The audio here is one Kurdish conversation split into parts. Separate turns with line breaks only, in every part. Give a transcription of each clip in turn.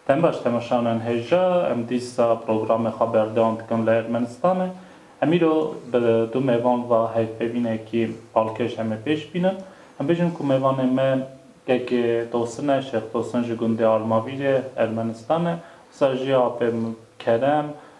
Em baş temaşanan hêja em dîsa programê xwe berdewam dikin li Ermenistanê. Em îro bi du mêvan ve hevpêvînekî balkêş em ê pêş bînin. Em bêjin ku mêvanê me KK Tosin e, Şêx Tosin ji gundê Armavîrê, Ermenistanê. Wisa jî apê min Kerem,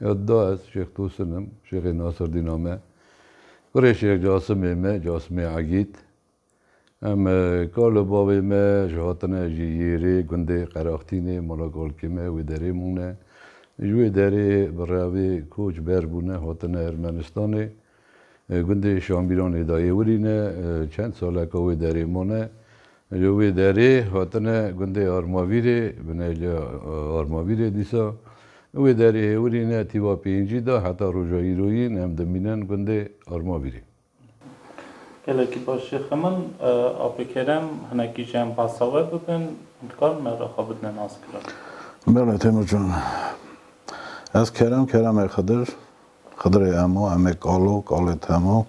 Ya da ez Şêx Tosin im, Şêxê Nasirdîn a me. Kurê Şêx Casimê me, Casimê Egîd. Em ka li bavê me ji hatine ji Yêrê, gundê Qeraxtînê, mala kalkê me wê derê mûne. Ji wê derê bi revê koç ber bûne hatine Ermenistanê. Gundê Şambîranê dayê Wirî ne, çend saleka wê derê mane. Li wê derê hatine gundê Armavîrê, bine li Armavîrê dîsa. Wê derê Hêwirî ne tîva pêncî da heta roja îroyîn em dimînin gundê Armavîrê. Gelekî
baş jî xemin. Apê Kerem, hinekî jî em behsa we bibin, dikarin erê xwe bidine naskirin. Belê
Têmurcan. Ez Kerem, Keremê Xidir, Xidrê hemû, em ê kal û kalêt hemû.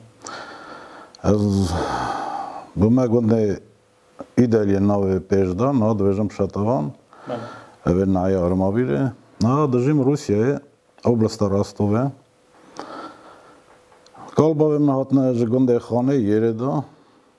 Ez bi me gundê Îdelyê navê pêş da, niha dibêjim Şetavan. Ev ê neheya Armavîrê. Niha dijîm Rûsyayê, Oblasta Rostovê. Kal bavê min hatine ji gundê Xanê Yêrê da.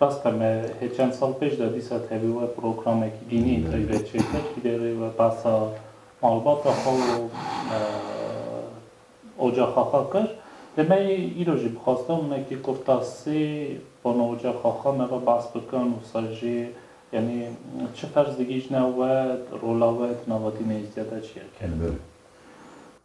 Rast e me hê çend sal pêş de dîsa tevî we programekî dînî yên taybet çêkir ji derê we behsa malbata xwe û ocaxa xwe kir. Lê me yê îro jî bi xwesta minekî kurta sê bano ocaxa xwe me ve behs bikin û ser jê yanî çi ferz digihîjne we, rola we di nava dînê Îzdiya de çi ye? Kelbir.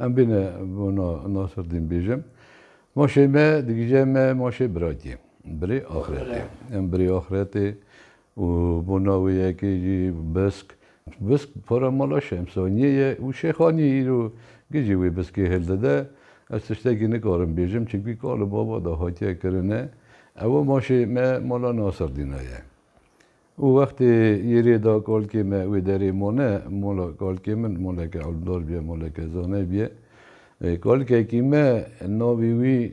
Em bîne bona Naserdîn bêjim. Maşê me digije me maşê birakê. Birê axiretê. Em birê axiretê û bona wê yekê jî bisk. Bisk para mala Şemsaniyê ye û Şêxaniyê îro gijî wê biskê hildide. Ez tiştekî nikarim bêjim çimkî kar li bava de hatiye kirine. Ew maşê me mala Naserdîna ye. Û wextê yêrê da kalkê me wê derê mane, mala kalkê min maleke elmdar bûye, maleke zane bûye. Kalkekî me navê wî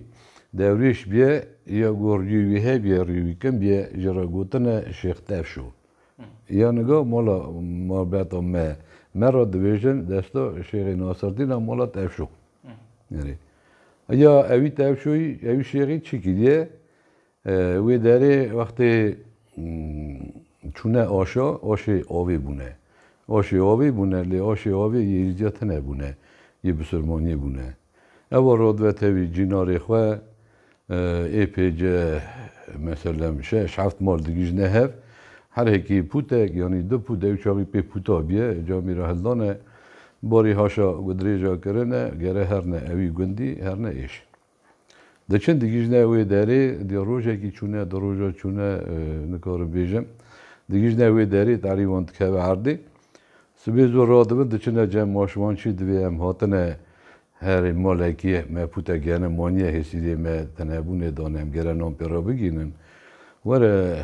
Dewrêş bûye ya ku rîyê wî hebûye, rîyê wî kin bûye ji re gotine Şêx Tevşo. Ya niga mala malbata me me re dibêjin desta Şêxê Naserdîn a mala Tevşo. Erê. Ya ewî Tevşoyî ewî Şêxî çi kiriye? Wê derê wextê çûne aşa, aşê avê bûne. Aşê avê bûne lê aşê avê yê îrîca tine bûne, yê bisirmaniyê bûne. Ewa radibe tevî cînarê xwe ê pêce meselem şeş heft mal digihîjne hev. Her hekî pûtek yanî du pût ew çavî pê pûta biye camî re hildane. Barî haşa gudirêja kirine gere herne ewî gundî herne êş. Diçin digijîne wê derê, diya rojekî çûne, du roja çûne nikarim bêjim. Digijîne wê derê tarî wan dikeve erdê. Sibê zû radibin diçine cem ma ji wan çi divê em hatine herê malekê me pûte gene maniye hêsîrê me tenebûnê dane em gere nan pê re bigînin. Were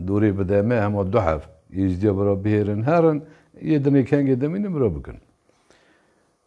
dorê bide me hema du hev êzdiya bira bihêrin herin yê dinê kengê dimînin bira bikin.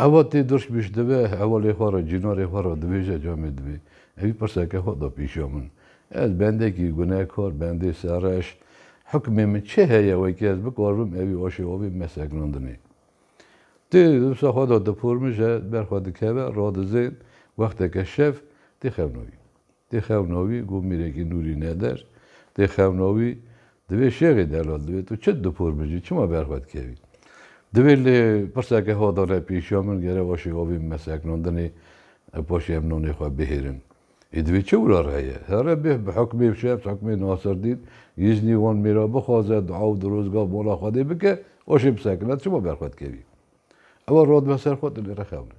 Eva tê dirş bişdive, hevalê xwe re, cînarê xwe re dibêje camê dibê. Evî pirseke xwe da pîşa min. Ez bendekî gunekar, bendê serreş. Hukmê min çi heye wekî ez bikaribim evî aşê avê me sekinandinê. Tê dibisa xwe da dipormije, ber xwe dikeve, radizên, wexteke şev tê xewnavî. Dê xewna wî ku mîrekî nûrî neder, dê xewna wî di vê şêxê delal divê. Tu çi dipor bijî, çima ber xwe dikevî? Divê lê pirseke hodane pêşiya min gere wa şêxa wî min me sekinandinê û paşê em nanê xwe bihêrin. Ê divê çi wira re heye? Here bih bi hukmê şer, hukmê Naserdîn, Yîznî wan mêra bixwaze, dua û dirozga mala Xwedê bike, wa şê bisekine, tu çima ber xwe dikevî? Ew a radime ser xwe, tu lê re xewne.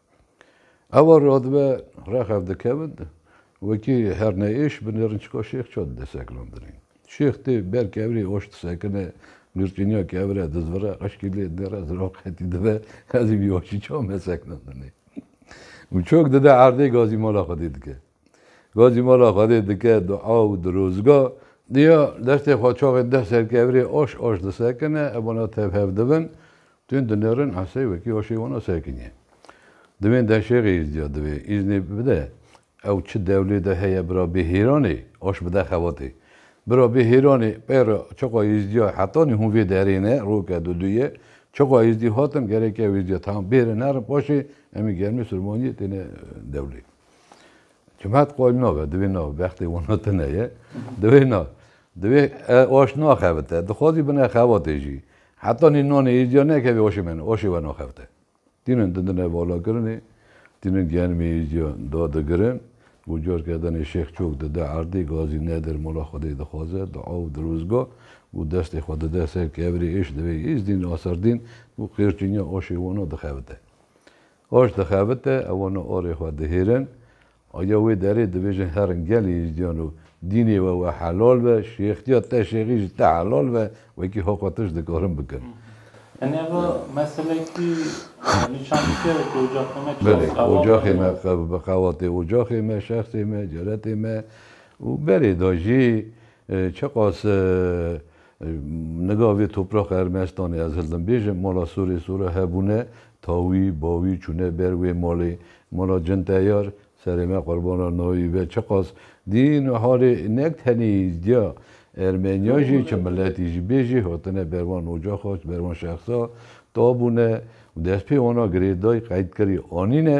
Ava radibe rexev dikevin wekî herneêş bi nêrin çika şêx ça dide sekinandinê. Şêx tê ber kevirê oş disekine, nûrçîniya kevire dizvire, qeşkî lê nêre ziran qetî dibe, ez ê vî oşî ça mesekinandinê. Û çok dide erdê gazî mala xwedê dike. Ga jî mala Xwedê dike dua û dirozga. Diya destê xwe çavên deh serkevirê aş aş disekine, ev wana tev hev dibin, tûn dinêrin, esey wekî aşê wana sekinî. Divên deh şêxê îzdiya divê îznê bide, ew çi dewlê de heye bira bê hêranê aş bide xebatê. Bira bê hêranê peyre çiqa îzdiya hetanî hûn vê derê ne, roke duduyê, çiqa îzdî hatin, gerek ew îzdiya tam bêrin herin paşê em ê germê sirmaniyê têne dewlê. Cumhet qol nabe, divê na bextê wana tune ye. Divê na. Divê oş naxebite. Dixwazî bine xebatê jî. Heta nî nanê êzîya nekevê oşê me oşê we naxebite. Tînin dindine valakirinê, tînin genimê êzîya da digirin û carke danê Şêx Çok dide erdê, gazî nedir mala Xwedê dixwaze, dua û dirozga û destê xwe dide ser kevirê êş divê Îzdîn Naserdîn û qêrçînya oşê wana dixebite. Oş dixebite, ewone orê xwe dihêrin. Aye wê derê dibêjin herin gelê Êzidiyan û dînê we we helal be, şêxtiya te şêxî ji te helal be, wekî hoqa te ji dikarin bikin. Yanî eva
meselekî nîşanîşîya ye ku ocaxê me
çawa qewatê. Belê, ocaxê me bi qewatê ocaxê me, şexsê me, ceretê me û berê de jî çiqas Niga vê topraxa Ermenistanê ez hildin bêjim mala sorê sora hebûne, tawî, bawî çûne ber wê malê, mala cin teyar, serê me qurbana nayî be çiqas dîn halê nek tenê îzdiya Ermeniya jî çi miletî jî bê jê hatine ber van ocaxa ber van şexsa tabûne û destpê wana girêdayî qeydkirî anîne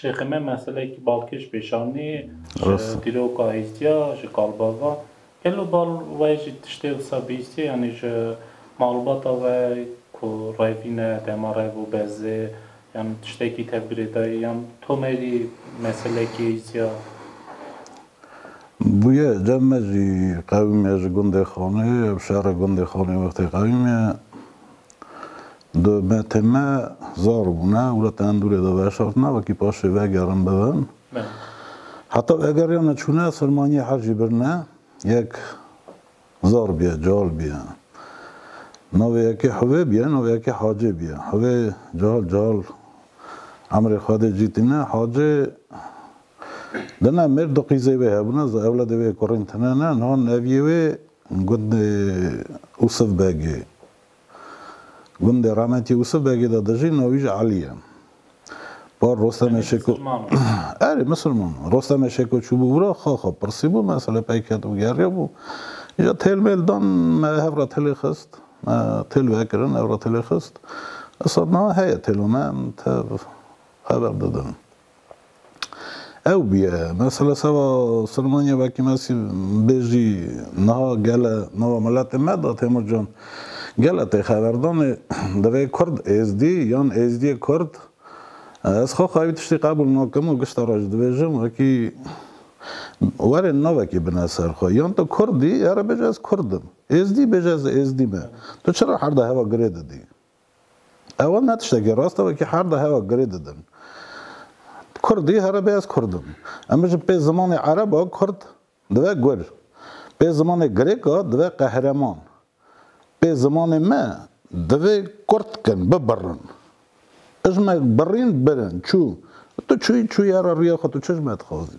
Şêxê me meseleyekî balkêş pêşanî, ji dîroka hîstiya, ji kalbava. Gelo bal we jî tiştê wisa bihîstiye yanî ji malbata we ku revîne, dema rev û bezê yan tiştekî tevgirê dayî yan tomerî meseleyekî hîstiya?
Bûye, cem me jî qewîm e ji gundê Xanê, ev şere gundê Xanê wextê qewîm e. Di metê me zar bûne û li tendûrê de veşartine wekî paşê vegerin bibin. Heta vegeriyane çûne sermaniyê her jî birine yek zar bîye, cihal bîye. Navê yekê Hivê bîye, navê yekê Hacê bîye. Hivê cihal cihal emrê Xwedê cî tîne. Hacê dine mêr du qîzê wê hebûne, zi ewledê wê kurîn tine ne. Niha neviyê wê got Usif Begê. Gundê Rametî Yûsif Begê de dijî navî jî Elî ye. Par Rostemê Şêko Erê misilman o. Rostemê Şêko çûbû wira xwe xwe pirsîbû me selê peyket û geriyabû. Îja têl mêl dan me hev re têlê xist. Me têl vekirin hev re têlê xist. Issa niha heye têla me em tev xeber didin. ew bûye. Mesela seba Silmanya vekî me sî bêjî niha gele nava miletê me da Têmur Can. Gele tê xeverdanê divê Kurd Êzdî yan Êzdiyê Kurd. Ez xwe xwewî tiştî qebûl nakim û gişta re jî dibêjim wekî werê navekî bine ser xwe. Yan tu Kurd î, here bêje ez Kurd im. Êzdî bêje ez Êzdî me. Tu çira herde heva girê didî? Ew ne tiştekî rast e wekî her de hewa girê didin. Kurdî here bê ez kurd im. Em bijin pê zimanê ereb a kurd dibe gur. Pê zimanê girêk a dibe qehreman. Pê zimanê me divê kurd bikin, bibirin. Ijmek birîn birin, çû. Tu çûyî çûye ra riya xwe tu çijme dixwazî.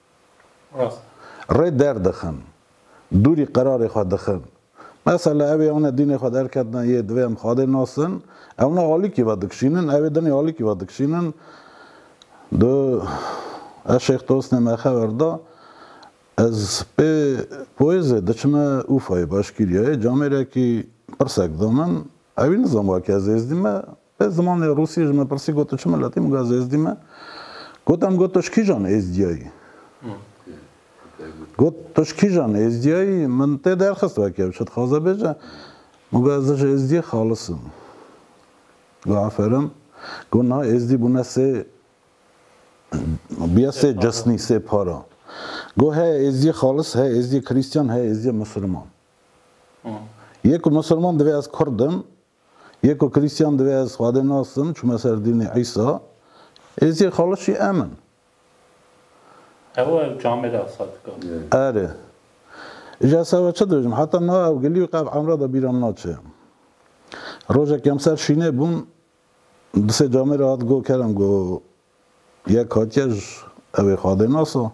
rê derdixin, dûrî qerarê xwe dixin. Mesela ew ê ane dînê xwe derketina yê divê em xadê nasin, ew ne alikî ve dikişînin, ew ê dinê alikî ve dikişînin. Do ez Şêx Tosnê me xewer da, ez pê poêzê diçime Ûfayê, Başkîriyayê, camêrekî pirsek da min, ewî nizanibû ke ez êzdî me, Ez zimanê Rûsî ji min pirsî got tu çi milet î? Min got ez êzdî me. Got em got tu ji kîjan êzdiyayî? Got tu ji kîjan êzdiyayî? Min tê derxist weke ev çi dixwaze bêje. Min got ez ji êzdiyê xalis im. Got aferin. Got na êzdî bûne sê bûye sê cisnî sê para. Got heye êzdiyê xalis heye êzdiyê krîstiyan heye êzdiyê misirman. Yê ku misirman divê ez kurd im. Yê ku Krîstîyan divê ez Xwedê nasim çûme ser dînê Îsa, êzî xalişî em in.
Ew ew camê de asa dika. Erê.
Îja ez sewe çi dibêjim, heta niha ew gilî û qev emra de bîra min naçê. Rojek em ser şînê bûn, di sê camê re hat go kerem go Yek hatiye ji ewê xadê nasa.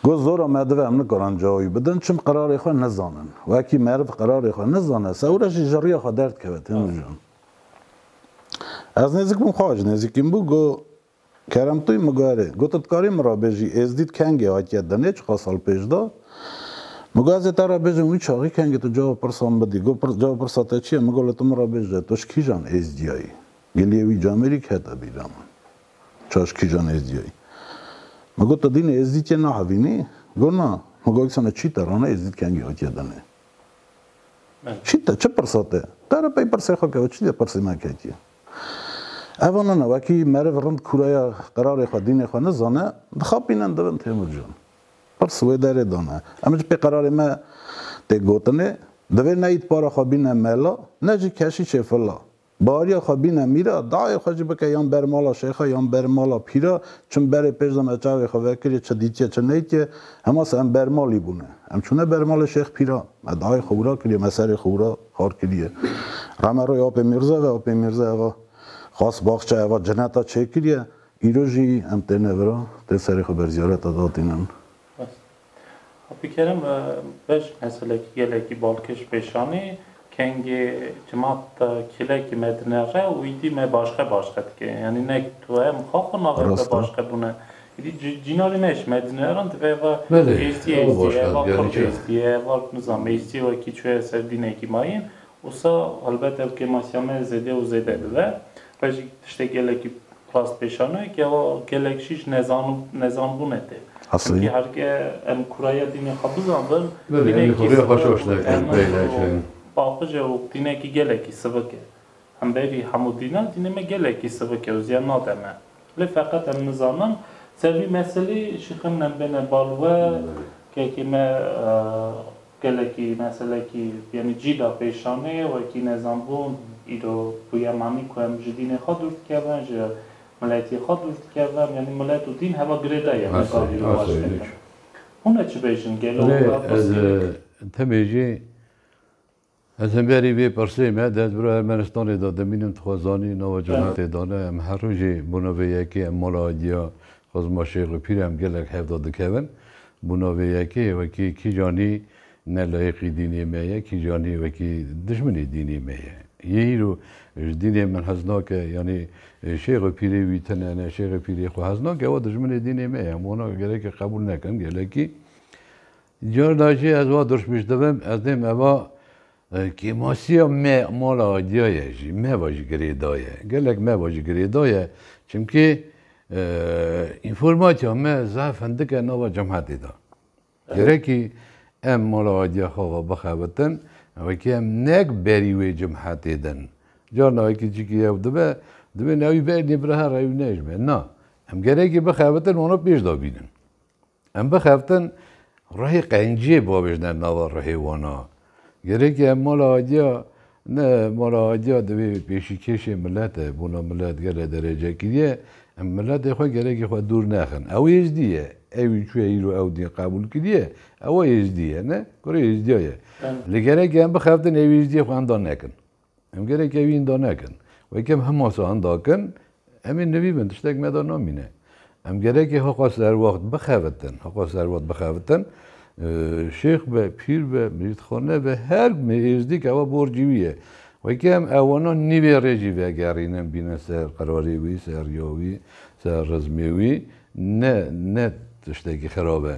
Got zora me dive em nikaran cawa wî bidin çim qerarê xwe nizanin. Wekî meriv qerarê xwe nizane sewre jî ji riya xwe derdkeve tê mijan. Ez nêzik bûm xwe ji nêzîkî min bû got Keremtûy min got erê. Got tu dikarî min re bêjî Êzdî di kengê hatiye dinê çiqas sal pêş de. Min got ez ê te re bêjim wî çaxî kengê tu cava pirsa min bidî. Got cava pirsa te çi ye? Min got li tu min re bêje tu ji kîjan Êzdiyayî? Geliye wî camerîk heta bîra min. Çaş kîjan êzdîyayî. Me got, Tadîne êzdî tîye nahavînî? Got, Na. Me got, Sana çî te rane êzdî kengî hatiye danê? Çî te, çi pirsa te? Te re pey pirsê xwe ke ew çi dê pirsê me ketiye. Eva nana wekî meriv rind kûraya qerarê xwe, dînê xwe nizane, dixapîne di bin Têmur can. Pirs wê derê dane. Em ji pê qerarê me tê gotinê, Divê ne îtpara xwe bîne mela, ne jî keşîşê fila. Bariya xwe bîne mîra, dayê xwe jî bike yan ber mala şêxa yan ber mala pîra, çin berê pêş de me çavê xwe vekirî çi dîtiye çi neytiye, hema se em ber malî bûne. Em çûne ber malê şêx pîra, me dayê xwe wira kiriye, me serê xwe wira xar kiriye. Re me roy apê mîrze ve, apê mîrze eva xas baxçe eva cineta çêkiriye, îro jî em têne vira, tê serê xwe berziyareta datînin. Abdulkerim
beş meselekî gelekî balkêş pêş anî, Kengê cimat de kîlekî me dinere û îdî me başqe başqe dike. Yanî ne tu em xwe xwe navê xwe başqe bûne. Îdî cînanê me ji me dineran divê eva êstî êstî ye, eva xurt êstî ye, eva nizam êstî ye wekî çûye ser dînekî mayîn. Wisa helbet ev kêmasiya me zêde û zêde dibe. Re jî tiştê gelekî rastpêşane ke wa gelek jî ji nezanbûnê tê. Çimkî herke
em
kuraya dînê xwe bizanbin, dînekî sivik
û paqij e û
dînekî gelekî sivik e. Hemberî hemû dînan dînê me gelekî sivik e û ziyan nade me. Lê feqet em nizanin ser vî meselî jî xeminem bêne bal we kekê me gelekî meselekî yanî cî da pêşanê wekî nezanbûn îro bûye manî ku em ji dînê xwe dûr dikevin ji miletî xwe dûr dikevin yanî milet û dîn heva girêda ye me gav îro baş dikin hûn e çi bêjin gelo Lê ez
te bêjê Ez li berî vê pirsê me di hezbûra Ermenistanê de dimînim, dixwaz zanî nava cemaetê dane, em her rojê bona vê yekê em mala Aydîya, Xizma Şêx û Pîr em gelek hevda dikevin, bona vê yekê wekî kîjanî ne layiqî dînê me ye, kîjanî wekî dijminê dînê me ye. Yê îro ji dînê min hez nake yanî Şêx û Pîrê wî tune ne Şêx û Pîrê xwe hez nake ewa dijminê dînê me ye, em wana gerekî qebûl nekin gelekî Carna jî ez wa dirşmiş dibim, ez dê me va kêmasiya me mala Adya ye jî me va jî girêda ye. Gelek me va jî girêda ye. Çimkî înformatiya me zaf hindik e nava cemhetê de. Gerekî em mala Adya xwe va bixebitin wekî em nek berî wê cemhetê din. Carna wekî çîkî yew dibe, divê newî bernê bi reha rewî nejme. Na, em gerekî bixebitin wana pêş de bînin. Em bixeftin rihê qenciyê babêjne nava rihê wan a. Gerêkî em mala Adiya ne mala Adiya divê pêşîkêşê milet e, bûna milet gelê derecekirî ye, em miletê xwe gerekî xwe dûr nexin. Ew êzdî ye. Ewî çûye îro ew dîn qebûl kiriye, ew êzdî ye ne? Kurê êzdiya ye. Lê gerekî em bixeftin êzdiyê xwe enda nekin. Em gelek evîn da nekin. Weke em hema sahan da kin, em ê nivîbin, tiştek me da namîne. Em gelekê heqa serwext bixebitin, heqa serwext bixebitin, şêx be, pîr be, mirîdxane be, her me êzdî ke ewa borcî wî ye. Weke em ewana nîvê rê jî vegerînin, bînin ser qerarê wî, ser riya wî, ser rizmê wî, ne ne tiştekî xirab e.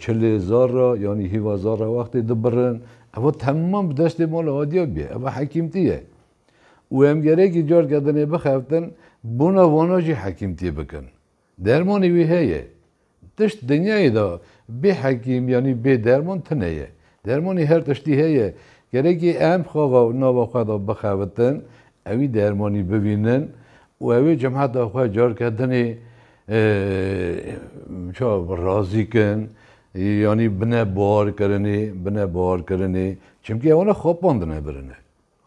Çilê Zara yanî hîva Zara wextê dibirin, ewa temam bi destê mala Adiyar bûye, ewa hekîmtî ye û em gerekî car ke dinê bixeftin bona vana jî hekîmtî bikin. Dermanê wî heye. Tişt dinyayê de bê hekîm yanî bê derman tune ye. Dermanê her tiştî heye. Gerekê em xava û nava xwe de bixebitin, ewî dermanî bibînin û ewê cemata xwe carke dinê ça razî kin yanî bine barkirinê, bine barkirinê. Çimkî ew ne xapandine birine.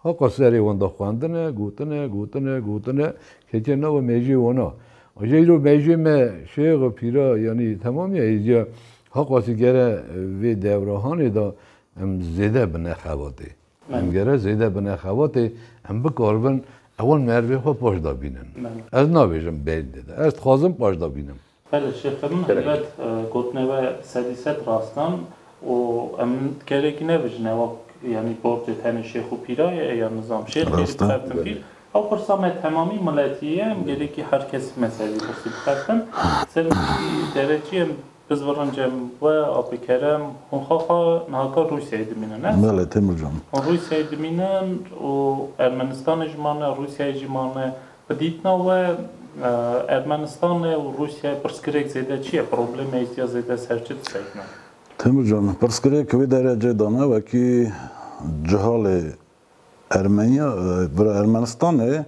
Heqa serê wan de xwendin e, gotin e, gotin e, gotin e, ketiye nava mejiyê wan a. Aja îro mejiyê me şêxa pîra yanî temamiya hêziya heqa sî gere vê dewrahanê de em zêde bine xebatê. Em gere zêde bine xebatê, em bikaribin ewan merivê xwe paşda bînin. Ez nabêjim bêyî dide. Ez dixwazim paşda bînim. Belê şêxê min
helbet gotinê we sedî sed rast an û em kerekî nebijine wek yanî borcê tenê şêx û pîra ye ê ya nizam. Şêx jî dixebtin pîr. Rast e. Ew pirsa me temamî miletî ye, em gerekî her kesî mezhebî pirsî dixebtin. Serokî derekî em Bizbirin Cem we, Apê Kerem, hûn xaxa niha kar Rûsyayê dimînin ne? Belê Têmur Can. Hûn
Rûsyayê dimînin
û Ermenistanê jî mane, Rûsyayê jî mane, Bi dîtina we Ermenistanê û Rûsyayê pirsgirêk zêde çi ye? Problemê îstiya zêde ser çi disekine? Temurcan,
Pirsgirêk wê derecê de ne wekî cihalê Ermeniya bira Ermenistanê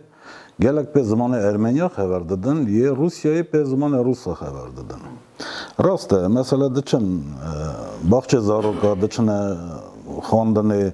gelek pê zimanê Ermeniya xeber didin yê Rûsyayê pê zimanê Rûsa xeber didin. Rast e, mesela diçin baxçê zaroka, diçine xwendinê.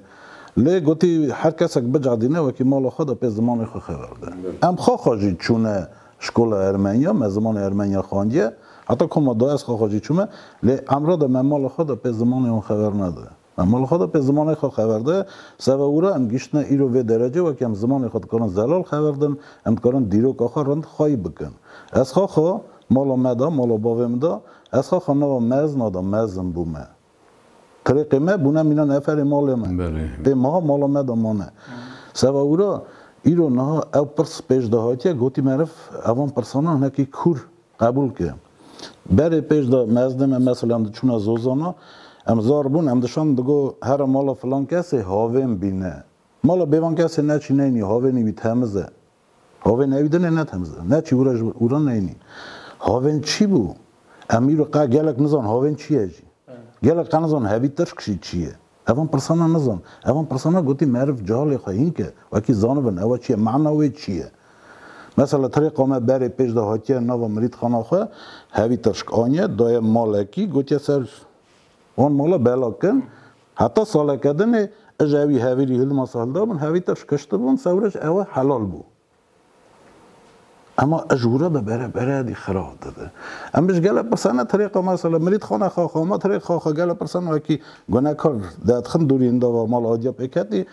Lê gotî her kesek bicadîne wekî mala xwe de pê zimanê xwe xeber bide. Em xwe xwe jî çûne şkola ermenya, me zimanê ermenya xandiye, heta koma du ez xwe xwe jî çûme, lê emra de me mala xwe de pê zimanê wan xeber nede. Me mala xwe de pê zimanê xwe xeber de, seve wira em gihiştine îro vê derecê wekî em zimanê xwe dikarin zelal xeber din, em dikarin dîroka xwe rind xwayî bikin. Ez xwe xwe mala me de, mala bavê min de, ez xwe xwe nava mezna de mezin bûme. Tirêqê me bûne mîna neferê malê me. Ê meha mala me de mane. Seba wî re îro niha ew pirs pêş de hatiye gotî meriv evan pirsanan hinekî kûr qebûl ke. Berê pêş de me ez dê me mesela em diçûne Zozana em zar bûn em dişan digo here mala filan kesê havên bîne. Mala bêvan kesê neçî neynî havênî wî temiz e. Hovên ew din e ne temiz e. Ne çî ûra ji ber ûra neyînî. Hovên çî bû? Em îro qe gelek nizan hovên çî ye jî. Gelek qe nizan hevî tirşk jî çî ye. Evan pirsana nizan. Evan pirsana gotî meriv cehalê xwe hîn ke wekî zanibin ewa çi ye, mana wê çi ye. Mesela tirê qe me berê pêş de hatiye nava mirîtxana xwe hevî tirşk aniye daye malekî gotiye ser Wan mala bela kin, heta saleke din ê ij ewî hevîrî hilmasa hildabin, hevî te şikiştibûn, sewre ji ewe helal bû. Ema ij wura be bere bere dî xira dibe. Em bi ji gelek pirsa ne tirêqa mesela mirîd xana xaxa ma tirêk xaxa gelek pirsa ne wekî gunekar dedixin dûrî hindava mala adya pê ketî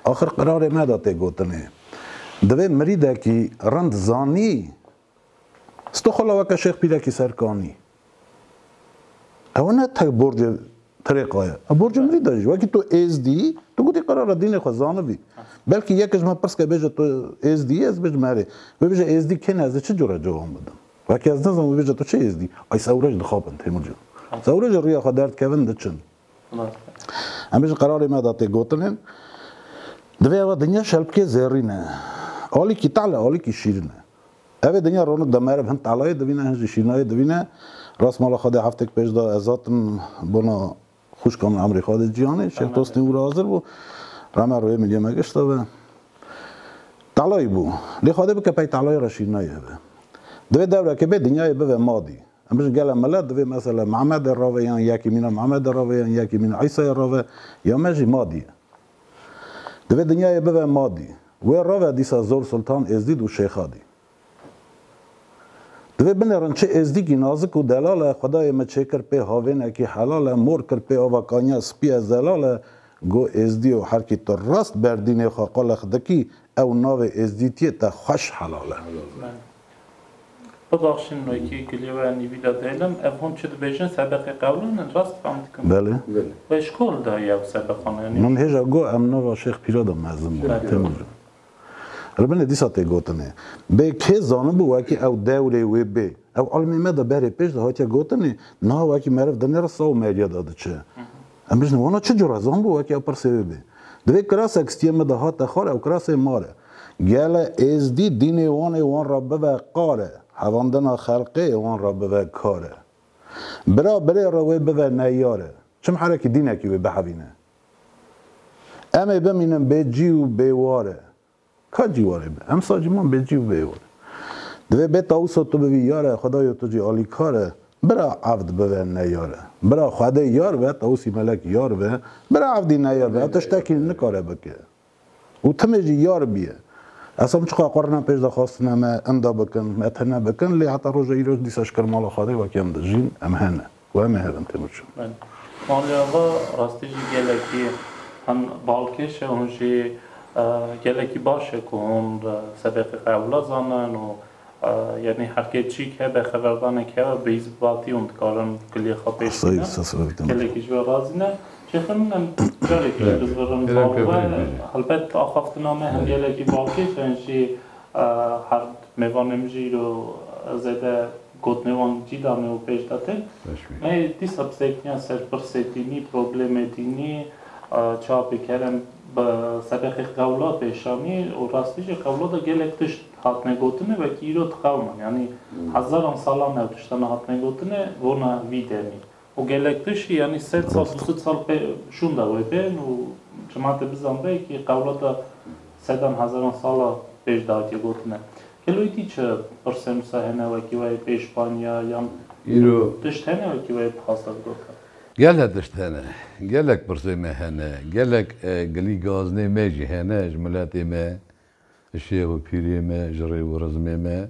axir qirarê me de tê gotinê. Divê mirîdekî rind zanî sto xwe la weke şêx pîrekî serkanî. Ew ne tek borcê Trêqa ye. Ev borcê min vî de jî. Wekî tu Êzdî, tu gotî qerara dînê xwe zanibî. Belkî yekê ji min pirs ke bêje tu Êzdî yî, ez bêjim erê. Wê bêje Êzdî kêm e, ez ê çi cure cewab bidim. Wekî ez nizanim wê bêje tu çi Êzdî? Ay sewre jî dixapin Têmur Cîlan. Sewre jî rîya xwe derdikevin diçin. Em ji qerarê me de tê gotin in. Divê ev dinya şelpikê zêrîn e. Alîkî tale, alîkî şîrîn e. Ev ê dinya ronik de meriv hin talayê divîne hin jî şîrînayê divîne. Rast mala Xwedê heftêk pêş de ez hatim bona xwişka min Emrî Xwedê Cîhanê, Şêx Tostîn wira hazir bû. Rame rûyê min yê me gişt eve. Talayî bû. Lê Xwedê bike pey talayê re şîrînayê hebe. Divê dewrekê bê dinyayê bive madî. Em ji gele mele divê mesela Mehmedê rave yan yekî mîna Mehmedê rave yan yekî mîna Îsayê rave ya me jî madî ye. Divê dinyayê bive madî. Wê rave dîsa zor Sultan Êzdîd û Şêxadî. Divê binêrin çi Êzdîkî nazik û delal e, xwedayê me çêkir pê havênekî helal e, mor kir pê ava kaniya spî e zelal e, go Êzdî û herkî tu rast berdînê xwe qol e xidikî ew navê Êzdîtiyê te xweş helal e.
Bibexşîn wekî gilîwaya nîvîda dêlm, ev hûn çi dibêjin sebeqê qewlan in, rast fam dikim? Belê. Wê ji
ku li
dayî ew sebeqan yanî? Min hêja got em
nava Şêx Pîra de mezin bûn. Têmil re. Li binê dîsa tê gotinê. Bê kê zanibû wekî ew dewrê wê bê? Ew ilmê me de berê pêş de hatiye gotinê, niha wekî meriv di nêra saw meriya de diçe. Em bijînin wana çi cure zan bû weke ew pirsê wê bê. Di vê kirasek stiyê min de hate xal ew kirasê mal e. Gele êzdî dînê wan ê wan re bibe qal e, hevandina xelqê ê wan re bibe kar e. Bira birê re wê bibe neyar e. Çim herekî dînekî wê bihevîne. Em ê bimînin bê cî û bê war e. Ka cî warê be. Em saciman bê cî û bê yor. Divê bê tawusa tu bivî yar e, xwedayo tu jî alîkar e. Bira evd bibe neyar e. Bira xwedê yar be, tawusî melek yar be. Bira evdî neyar be, ev tiştekî nikare bike. Û timê jî yar bîye. Esam çiqa qurna pêş de xwestine me inda bikin, me tune bikin, lê heta roja îroj dîsa ji ker mala xwedê wekî em dijîn, em hene. û em ê herin têmir çûn. Malê
Ava rastî jî gelekî hem balkêş e hûn jî gelekî baş e ku hûn sebeqê xwe ewla zanin û yanî herkê çîk hebe xeberdanek hebe bi hîs bi vatî hûn dikarin kulîyê xwe pêş bînin. Gelekî ji we razî ne. Şêxê min em carekê ji bizirin bavê we helbet axaftina me hem gelekî balkêş e hûn jî her mêvanê min jî îro zêde Gotinên wan cîda me û pêş de tê. Me dîsa bi sekiniya ser pirsê dînî, problemê dînî çapê kerem bi sebexê qewla pêş anî û rastî jî qewla de gelek tişt hatine gotine wekî îro diqewimin. Yanî hezaran salan ew tiştane hatine gotine vona vî demî. Û gelek piştî yanî sed sal du sed sal pê şûnda wê bên û çima te bizanibê kî qewlata sedan hezaran sala pêş dihatiye gotine. Gelo îdî çi pirse nûsa hene wekî wê pê Spanya yan îro tişt hene wekî wê dixwaste bigote? Gelek tişt hene.
Gelek pirsê me hene. Gelek gilî gaznê me jî hene ji miletê me, ji şêx û pîrê me, ji rêv û rizmê me.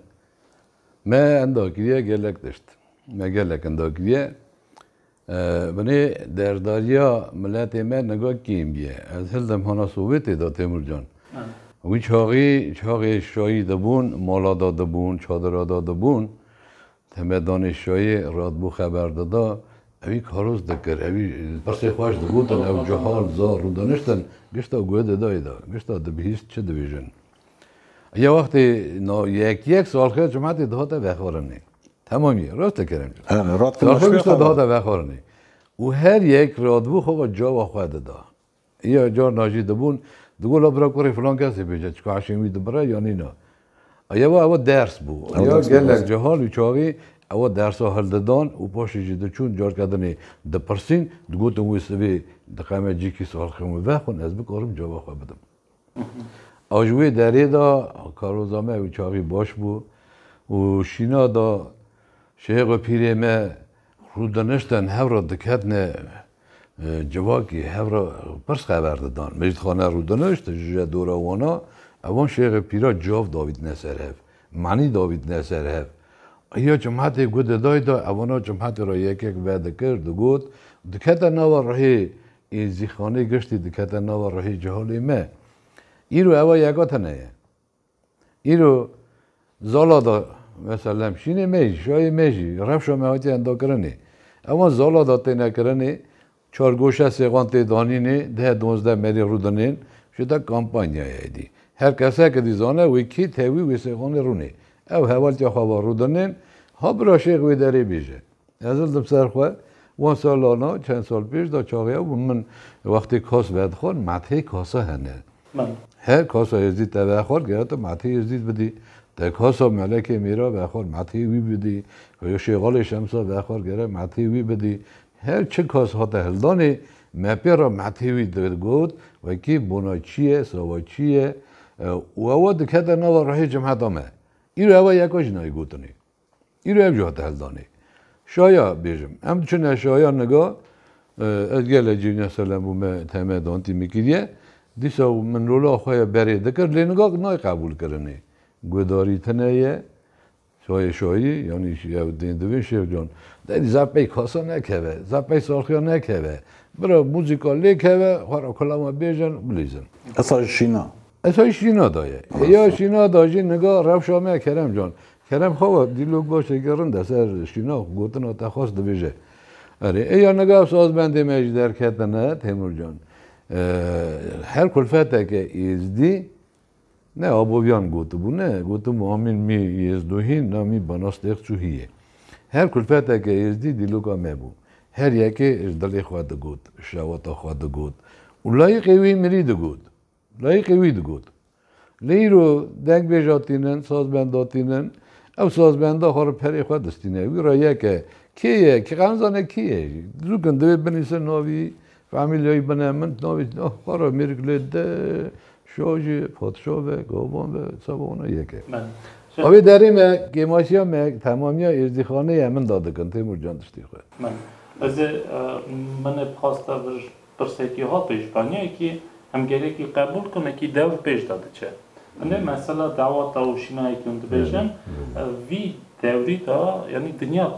Me enda kiriye gelek tişt. Me gelek enda kiriye. Binê derdariya miletê me niga kêm bîye. Ez hildim hana Sowêtê de Têmur can. Wî çaxî çaxê şayî de bûn, mala de dibûn, çadira de dibûn. Teme danê şayê radbû xeber dida. Ewî karos dikir. Ewî pirsê xweş digotin ew cihal zar rûdaniştin. Gişta guh didayê de. Gişta dibihîst çi dibêjin. Ya wextê no yek yek salxê cumatê dihate vexwarinê. Hemam ye, rast dikirin. Salxê wisa dihate vexwarinê. Û her yek radibû xwe ve cava xwe dida. Ya carna jî dibûn, digot la bira kurê filan kesê bêje çika eşên wî dibire ya nîna. Ya we ew ders bû. Ya gelek cihal û çavê ew dersa hildidan û paşê jî diçûn carke dinê dipirsîn, digotin wê sivê diqeme cîkî salxê min vexwin ez bikarim cava xwe bidim. A ji wê derê de karoza me ew çaxî baş bû û şîna da şêx û pîrê me rû diniştin hev re diketine civakî hev re pirs xeber didan. Mecîd Xane rû dinişt ji je dora wana evan şêx û pîra cav davîtine ser hev, manî davîtine ser hev. Ya çimhetê ku didayda evana çimhetê re yek yek vedikir digot dikete nava rihê Ê zîxanê giştî dikete nava ruhê ceholê me. Îro ewa yeka tine ye. Îro zala da mesela hemşînê me jî, şayê me jî, rewşa me hatiye endakirinê. Ewan zala da têne kirinê, çargoşe sêxan tê danînê, deh duwazdeh merî rûdinên, ji te kampanya ye êdî. Her keseke dî zane wê kê tewî wê sêxanê rûnê. Ew hevaltiya xwe va rûdinên, ha bira şêx wê derê bêje. Ez li ser xwe wan salana çend sal pêş de çaxeya bûm min wextê kas vedixwar methê kasa hene. Her kasa Êzdîd te vexwar giya tu methê Êzdîd bidî. Te kasa Melekê Mîra vexwar methê wî bidî. Xuya Şêxalê Şemsa vexwar gerek methê wî bidî. Her çi kas hate hildanê me pê re methê wî digot wekî bona çi ye sawa çi ye û ewa dikete nava rehê cemeta me. Îro ewa yeka jî nayê gotinê. Îro ev jî hate heldanê. Şaya bêjim. Em diçine şaya niga ez gelek cî ne selem bû me teme dantî min kiriye. Dîsa min rola xwe ya berê dikir lê niga nayê qebûlkirinê. Guhdarî tune ye çayê şayîrî yanî ew tên divin Şêx Can. Dayî zaf pey kasa nekeve, zaf pey saxiya nekeve. Bira muzîka lê keve xwe ra kulama bêjin bilîzin. Esayî
şîna. Esayî şîna
da ye. Ya şîna da jî niga rewşa me Kerem Can. Kerem Xava dîlok başekî rind e ser şînax, gotina te xwest dibêje. Erê ê ya nigav sazbendê me jî derketine Têmur Can. Her kulfeteke êzdî ne Aboviyan gotibûne, gotibû Amîn mî êzdo hîn na mî banas têx çû hîyê. Her kulfeteke êzdî dîloka me bû. Her yekê ji dilê xwe digot, şewata xwe digot û layiqê wî mirî digot. Dayîkê wî digot, Lê îro dengbêja tînin, sazbenda tînin, ew sazbenda xwe li perê xwe distîne. Wî re yek e. Kê ye? Kê qe nizane kê ye jî. Dizûk in divê binîse navî famîlyayî bine. Min navê xwe re mêrik lê dide. Şah jî patişah be, gavan be, seba wana yek e. A wê derê me kêmaşiya me temamiya êzdîxaneyê min da dikin Têmûr Can tiştê xwe. Min. Ez ê
min ê bi xwasta vir Pirsekî ha pêşbaniyekî em gerekî qebûl ku nekî dewr pêş de diçe. Hindê mesela dawa tawûşînayekî hûn dibêjin vî dewrî de yanî dinya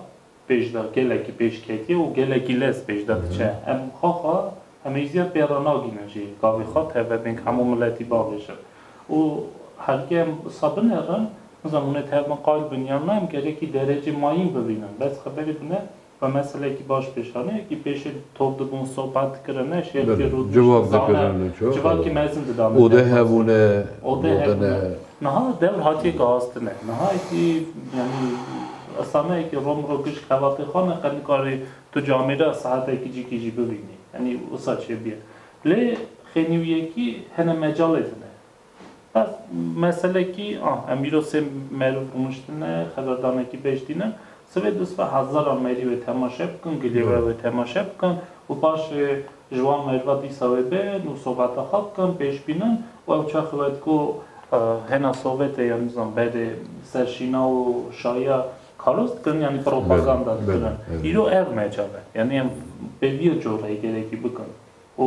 pêş de gelekî pêş ketiye û gelekî lez pêş de diçe. Em xaxa hemêjîya pê re nagînin jî gavê xwe teve bên ku hemû miletî babêjin. Û hergê em wisa binerin, nizanîm hûn ê tev bin, qayil bin yan na em gerekî derecê mayîn bibînin. Bes xeberê bine Xwe meselekî baş pêş xist. Ne wekî pêşê top dibûn, sohbet dikirin, ne şêrtî rû dişt. Civak dikirin
û çi. Civakî mezin
dida min. Ode hebûne,
ode ne.
Niha dewr hatiye gazdine. Niha yekî yanî Islame yekî rom ro kişt xebatê xwe ne qe nikarî tu camê de saetekî cikî jî bivînî. Yanî wisa çêbûye. Lê xênî wî yekî hene mecalê dine. Bes meselekî a em îro sê merûv rûniştine, xeberdanekî bej dîne. Sibê du sibê hezaran merî wê temaşe bikin, gilê we wê temaşe bikin û paşê ji wan merva dîsa wê bên û sobeta xwe bikin, pêş bînin û ew çaxê wê diko hêna sovete ya nizam berê ser şîna û şaya kalos dikin yanî propaganda dikin. Îro ev mecal e. Yanî em pê vî ya corekê gerekî bikin û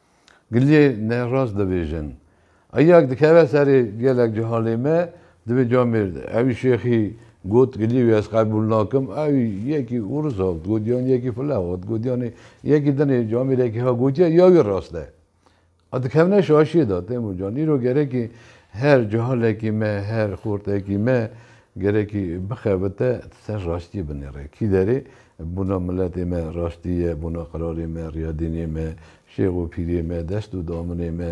Giliyê ne rast dibêjin. Eyak dikeve serê gelek cehalê me divê camêr de. Ewî şêxî got gilî wî ez qebûl nakim ewî yekî ûrûs hat got yan yekî file hat got yanî yekî dinê camêrekî hat gotiye ya wî rast e. A dikevne şaşiyê de Têmur can. Îro gerekî her cehalekî me her xortekî me Gerekî bixebite tu ser raştiyê binêre. Kî derê bona miletê me raştî ye, bona qirarê me, riyadînê me, şêx û pîrê me, dest û daminê me.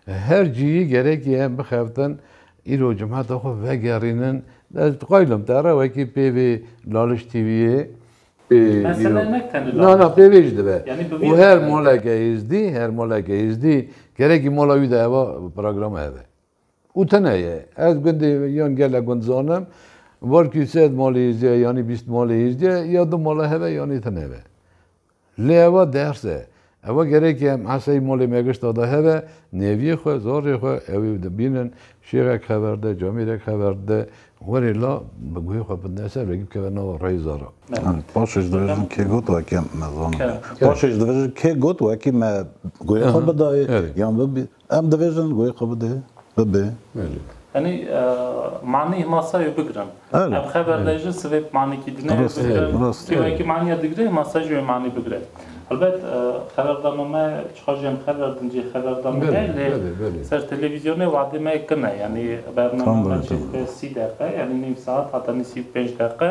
Her ciyî gerekî em bixebitin îro cumeta xwe vegerînin. Ez diqaylim te re wekî pêvê Laliş TV'yê
na na pêvê jî dibe.
Û her
maleke
êzdî, her maleke êzdî gerekî mala wî de eva programme hebe. Û tune ye. Ez gundê yan gele gund zanim. Var kî sed malê hêzdeh yanî bîst malê hêzdeh ya du mala heve yanî tune be. Lê eva ders e. Eva gerekê em eseyî malê me gişta de heve, neviyê xwe, zarê xwe ewê dibînin, şêxek hever de, camêrek hever dide, werê la bi guhê xwe bidine ser vekî bikeve nava reyê zara. Paşê ji divijirin kê got wekî em me zanibin. Paşê ji divijirin
kê got wekî me guhê xwe bidayê yan bibî. Em dibêjin goyê xwe bide, bibê. Yanî
manî masayê bigirin. Em xeber de jî sivê bi manîkî dineyê bigirin. Kê wekî manîya digire masa jî wê manî bigire. Helbet xeberdana me çiqas jî em xeber din cê xeberdana me lê ser televîzyonê wadê me kin e. Yanî bername me çêdike sî deqe yanî nîv saet heta nîsî û pênc deqe.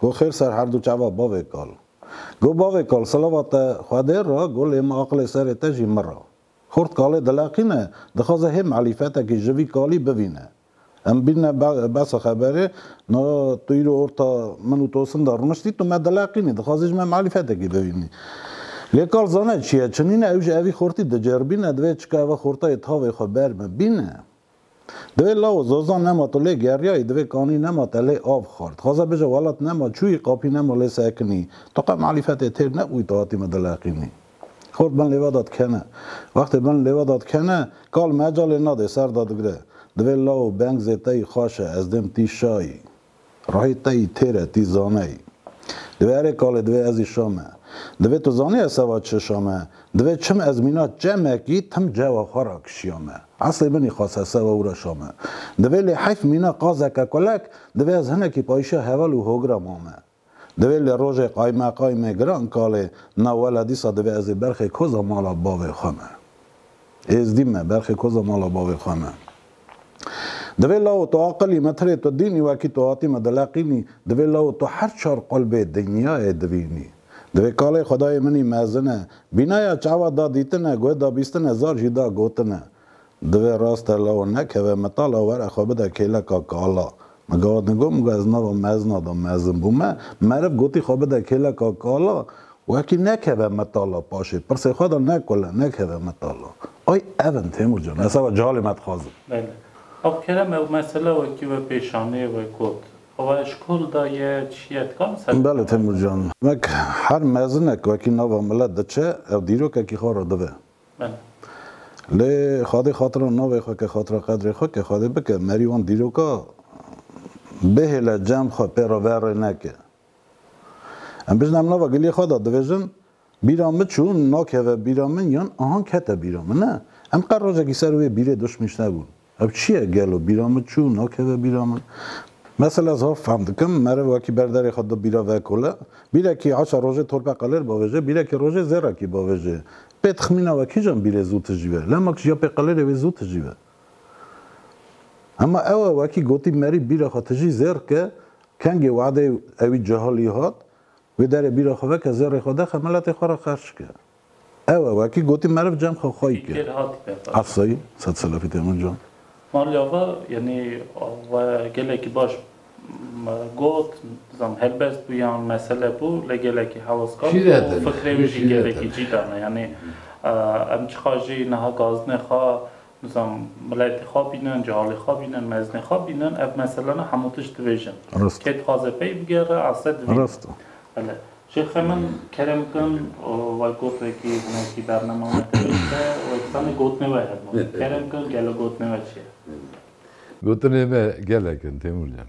Go xêr ser herdu çava bavê kal. Go bavê kal silava te Xwedê ra go lê min aqilê serê te jî min ra. Xort kalê dileqîne dixwaze hê melîfetekî ji vî kalî bivîne. Em bîne besa xeberê na tu îro orta min û Tosin de rûniştî tu me dileqînî dixwazî ji me melîfetekî bivînî. Lê kal zane çi ye çinîne ew ji evî xortî diceribîne divê çika ev xortayê tavê xwe ber bibîne. Divê lawo zozan nema tu lê geriyayî divê kanî nema te lê av xwar. Dixwaze bije welat nema çûyî qapî nema lê sekinî. Tu qe malîfetê têr nebûyî tu hatî min dileqînî. Xort bin lêve de dikene. Wextê bin lêve de dikene kal mecalê nadê ser de digre. Divê lawo beng zê teyî xaşe ez dêm tîşayî. Rahî tey têre tî zaney. Divê erê kalê divê ezî şame. Divê tu zanî ez seva çi şame. Divê çim ez mîna çemekî tim cewa xwe ra kişîyame. Eslê binî xase seva wira şame. Divê lê heyf mîna qazeke kulek, divê ez hinekî payîşa heval û hogira mame. Divê li rojê qaymeqaymê giran kalê na wele dîsa divê ez ê berxê koza mala bavê xwe me. Êzdî me, berxê koza mala bavê xwe me. Divê lawo tu aqilî me tirê tu dînî wekî tu hatî me dileqînî, divê lawo tu her çar qulbê dinyayê divînî. Divê kalê xwedayê minî mezin e. Bînaya çawa da dîtine, guh da bîstine, zar jî da gotine. Divê raste law nekeve mitala were xwe bide kêleka kala. Min gawa din got, min got ez nava mezina de mezin bûme, meriv gotî xwe bide kêleka kala, wekî nekeve mitala paşê, pirsê xwe de nekule, nekeve mitala. Ay ev in Têmur can, ez seba cehalê me dixwazim. Belê. Av
Kerem ew mesela wekî we pêşanê we got, awa eşkol de ye, çiye, tu kamis ev Belê
Têmur can. Wek her mezinek wekî nava milet diçe, ew dîrokekî xwe re dive.
Lê
Xwedê xatira navê xwe ke xatira qedrê xwe ke Xwedê bike merî wan dîroka bihêle cem xwe pê re verê neke. Em bijne em nava giliyê xwe de dibêjin bîra min çû nakeve bîra min yan ahang kete bîra min ne. Em qet rojekî ser wê bîrê duşmîş nebûn. Ev çi ye gelo bîra min çû nakeve bîra min. Mesela ez hov fehm dikim meriv wekî ber derê xwe du bîra vekole. Bîrekî aşa rojê torpe qelir bavêje, bîrekî rojê zêrekî bavêje. Pê tixmîna we kîjan bîrê zû tijîve? Lema kî ya pê qelirê wê zû tijîve. Hema ew e wekî gotî merî bîra xwe tijî zêr ke, kengê wadeyê ewî cehalî hat, wê derê bîra xwe veke zêrê xwe dexe miletê xwe re xerc ke. Ew e wekî gotî meriv cem xwe xwey kir. Ev sey sed selefî tê min can. Malê ava
yanî we gelekî baş got, dizam helbest bû yan mesele bû lê gelekî hewskan bû û fikrê wî jî gelekî cî dane. Yanî em çiqa jî niha gazdinê xwe Dizan miletê xwe bînin, cehalê xwe bînin, mezinê xwe bînin, ev meselene hemû tişt dibêjin. Kê dixwaze pey bigere ase dibîne. Bele. Şêxe min kerem bikin wek got wekî hinekî bername me te bêjte û ez dizanê gotinê we hebûn. Kerem bikin gelo gotinê we çi ye? Gotinê
me gelek in Têmur can.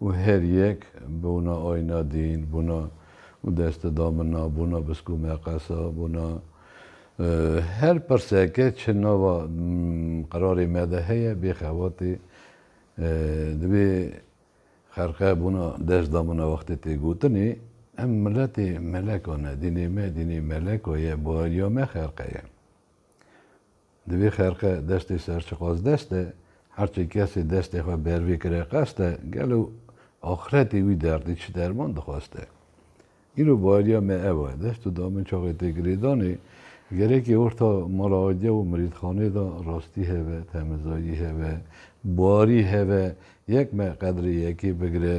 û her yek bona ayna dîn, bona û deste da min na, bona biskû me qesa, bona her pirseke çi nava qerarê me de heye bê xebatê divê xelqe bona dest da min na wextê tê gotinê em miletê melekan e, dînê me dînê meleka ye, bariya me xelqe ye. Di vî xerqe destê serçiqazdest de, her çi kesê destê xwe ber vî kire qeste, gelo axretê wî derdî çi derman dixweste? Îro bayeriya me ew e, dest û damên çaxê tê girêdanê, gerekê orta mala aciya û mirîdxanê de rastî hebe, temizayî hebe, barî hebe, yek me qedrê yekê bigire,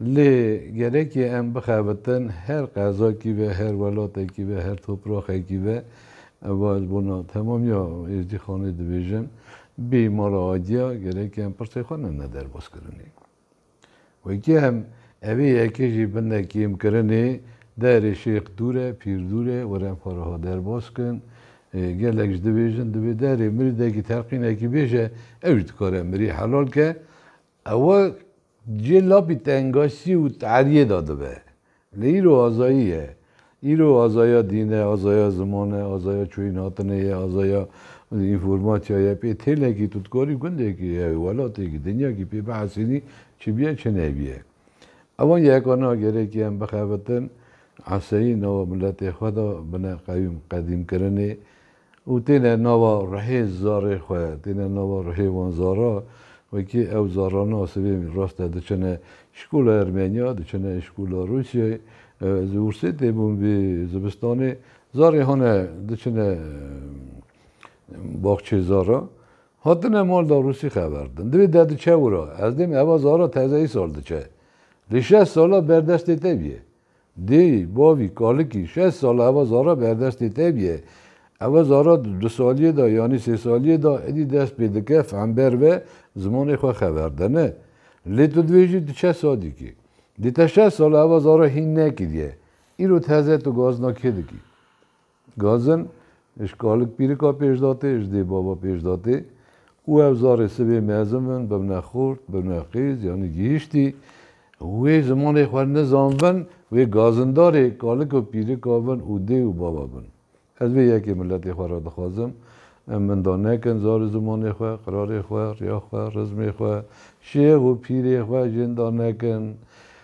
Lê gerekî em bixebitin her qezakî be, her welatekî be, her topraxekî be, eva ji bo temamiya Êzdîxanê dibêjin, bê mala Adiya gerekî em pirsê xwe nene derbazkirinê. Wekî em evê yekê jî bine kêmkirinê, Derê Şêx dûr e, pîr dûr e, were em xwe reha derbaz kin. Gelek ji dibêjin divê derê mirîdekî telqînekî bêje, ew jî dikare mirî helal ke. Ewa Cê lapî tengaşî û teriyê de dibe. Lê îro azayî ye. Îro azaya dîn e, azaya ziman e, azaya çûyînhatinê ye, azaya înformasya ye. Pê têlekî tu dikarî gundekî, welatêkî, dinyakî pê bihesînî çi bîye çi nebîye. Evan yeka na gerekî em bixebitin eseyî nava miletê xwe de bine qewîm qedîmkirinê. û têne nava rihê zarê xwe, têne nava rihê wan zara, wekî ew zarana sibê rast e diçine şkola Ermeniya, diçine şkola Rûsyayê, ez li Wûrsêtê bûm vê zivistanê, zarê hane diçine baxçê zara, hatine mal da Rûsî xeverdin, divê de diçe wira, ez dême eva zara teze îsal diçe, lê şeş sala berdestê te bûye. Dê, bavî, kalikî, şeş sal e ewa zara berdestê te bîye. Ewa zara di du saliyê de yanî sê saliyê de êdî dest pê dike fehmber ve zimanê xwe xeber dene. Lê tu dibêjî tu çend salî kî. Dê te şeş sal e ewa zara hîn nekiriye. Îro tu heze tu gazina kê dikî? Gazen, Ji kalik pîrika pêşdatê, ji dê bava pêşdatê û ev zarê sibê mezin bin, bibne xurt, bibne xêz yanî gihîştî. Wê zimanê xwe nizan bin, wê gazindarê kalik û pîrika bin û dê û bava bin. Ez vê yekê miletê xwe re dixwazim. Em minda nekin zar û zimanê xwe, qirarê xwe, riya xwe, rizmê xwe, şêx û pîrê xwe jênda nekin.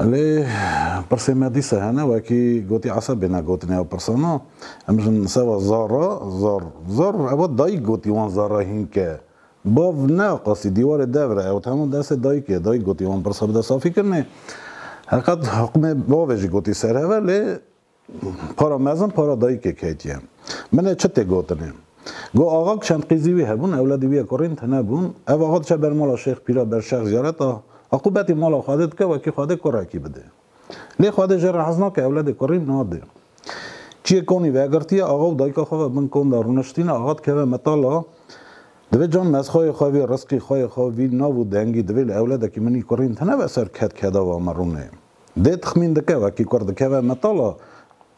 Lê pirsên me dîsa hene wekî gotî Esed bêne gotinê ew pirsan a. Em jin seba zarra, zarr, zarr ewa dayîk gotî wan zarra hînke. Bav neaqasî dîwarê devre ew hema destê dayîkê, dayîk gotî wan pirsa bide safîkirinê. Heqet hiqmê bavê jî gotî serhev e lê Para mezin para dayikê ketiye. Min ê çi tê gotinê. Got axa ku çend qîzî wî hebûn, ewladî wî ya ku rînd tune bûn. Ev axa diçe ber mala Şêx Pîra ber şex ziyareta. Aqû betî mala Xwedê dike wekî Xwedê kurekî bidê. Lê Xwedê jê re hez nake ewledê ku rînd nadê. Çiyê konî vegirtiye axa û dayika xwe ve bin kon de rûniştîne. Axa dikeve mitala. Divê can mezxayê xwe vî, rizqî xwe yê xwe vî, nav û dengî divê li ewledekî min î ku rînd tune ve ser ked keda va min rûnê. Dê tixmîn dike wekî kurd dikeve metala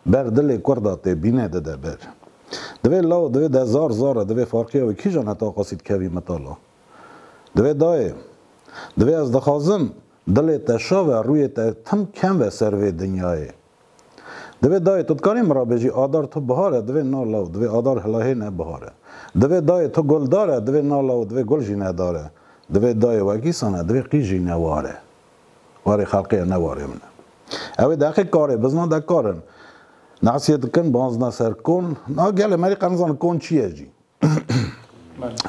ber dilê kurda tê bîne dide ber. Divê law divê de zar zar e divê farqîya wî kîjan heta qasî dikevî metala. Divê dayê. Divê ez dixwazim dilê te şa ve rûyê te tim kem ve ser vê dinyayê. Divê dayê tu dikarî min ra bêjî adar tu bihar e divê na law divê adar hilahê ne bihar e. Divê dayê tu gul dar e divê na law divê gul jî ne dar e. Divê dayê wekîsan e divê qîj jî ne war e. Warê xelqê ye ne warê min e. Ew ê deqê karê bizna de kar in. Nasiyê dikin banzna ser kon. Na gelê me rê qe nizanin kon çi ye jî.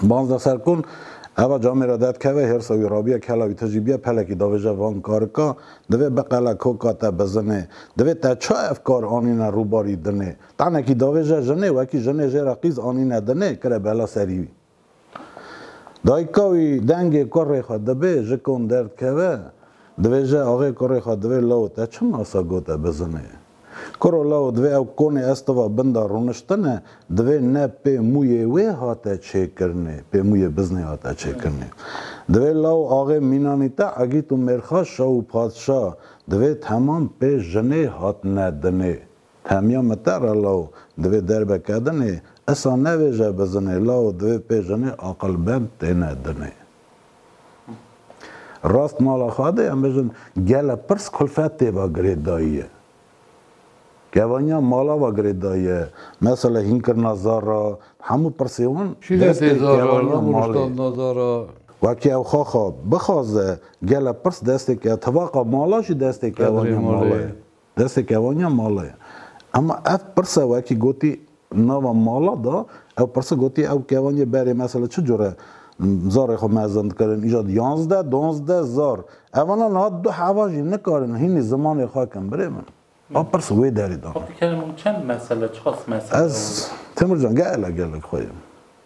Banzna ser kon eva camê re dedikeve hêrsa wî rabiye kela wî tijî biye pelekî davêje van karika divê biqele koka te bizinê. Divê te ça ev kar anîne rûbarî dinê. Tenekî davêje jinê wekî jinê jê re qîz anîne dinê kire bela serî wî. Dayika wî dengê kurê xwe dibê ji kom derdkeve, dibêje axê kurê xwe divê law te çi masa got e bizinê. Kuro law divê ew konê ez tiva bin de rûniştine divê ne pê mûyê wê hate çêkirinê pê mûyê bizinê hate çêkirinê. Divê law axê mînanî te egît û mêrxa şa û padşa divê temam pê jinê hatine dinê. Hemiya me te re law divê derbe kedinê, esa nevêje bizinê law divê pê jinê aqilbend têne dinê. Rast mala xwe de em bijin gele pirs kulfet tê ve girêdayiye. Kevaniya mala ve girêdayiye, mesela hînkirina zara, hemû pirsê wan destê kevaniya
malê. Wekî ew xaxa
bixaze gele pirs destê ke tivaqa mala jî destê kevaniya mala ye. Destê kevaniya mala ye. Ema ev pirsa wekî gotî nava mala de ew pirsa gotî ew kevaniya berê mesela çi cure zarê xwe mezin dikirin îja di yanzdeh duanzdeh zar evana niha du heva jî nikarin hînî zimanê xwe kin birê min ew pirsa wê derê de.
Ez Timur
can gelek gelek xwe ye.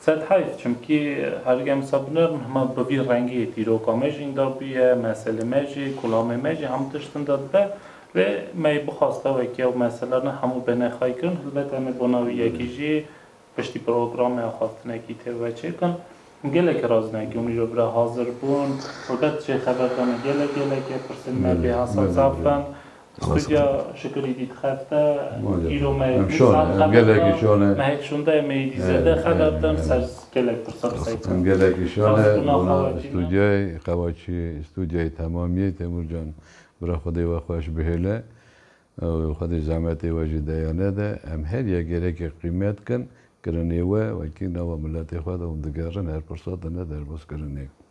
Sed
heyf çimkî herî em sabûner in hema bi vî rengî yê dîroka me jî inda bûye, meselê me jî, kulamê me jî hemû tişt inda dibe. Lê me yê bixwasta wekî ew mesele ne hemû bêne xay kirin. Helbet em ê bona wî yekî jî piştî programeya xwestinekî tê ve çêkin. Gelekî razî ne ku mîro bira hazir bûn. Helbet jê xeber dane gelek gelekê pirsên me bêhesa zaf in. Xwedî şikirî dît xebte îro me yê dîsan xebte mehek şonde em ê dî zêde xebet em ser gelek pirsa bi sey kirin. Gelekî şone bona
stûdyayê Qewaçî stûdyayê temamîyê Têmur can bira Xwedê we xweş bihêle û Xwedê zehmetê we jî deya nede em her yek gêreke qîmet kin kirinê we wekî nawa miletê xwe de hûn digerin her pirsa tune derbas kirinê.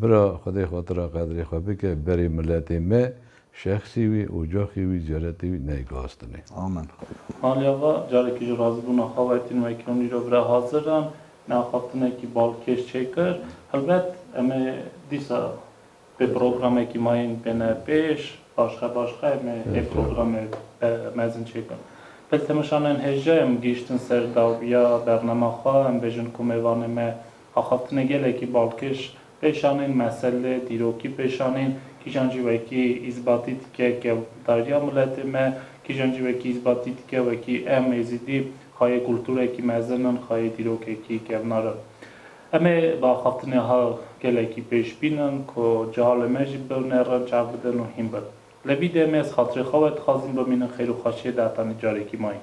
Bira xwedê xatira qedrê xwe bike berê miletê me şexsî wî ocaxî wî ceretê wî ney gastinê. Amen.
Malê ava
carekî ji razibûna xwe wetîn wekî hûn îro bira hazir in me axaftinekî balkêş çêkir helbet em ê dîsa pê programekî mayîn bêne pêş başxe başxe em ê ê programê mezin çêkin pil temeşanên hêja em gihîştin ser dawiya bernema xwe em bêjin ku mêvanê me Axaftina gelekî balkêş pêşanîn meselê dîrokî pêşanîn, kîjan jî wekî îzbatî dike ke dayîrya miletê me, kîjan jî wekî îzbatî dike wekî em Êzidî xayê kultûrekî mezin in, xayê dîrokekî kevnar in. Em ê bi axaftinê ha gelekî pêş bînin ku cehalê me jî biwnerin, çav bidin û hîn bin. Li vî demê ez xatirê xwe we dixwazim bimînim xêr û xweşiyê di hetanî carekî ma yî.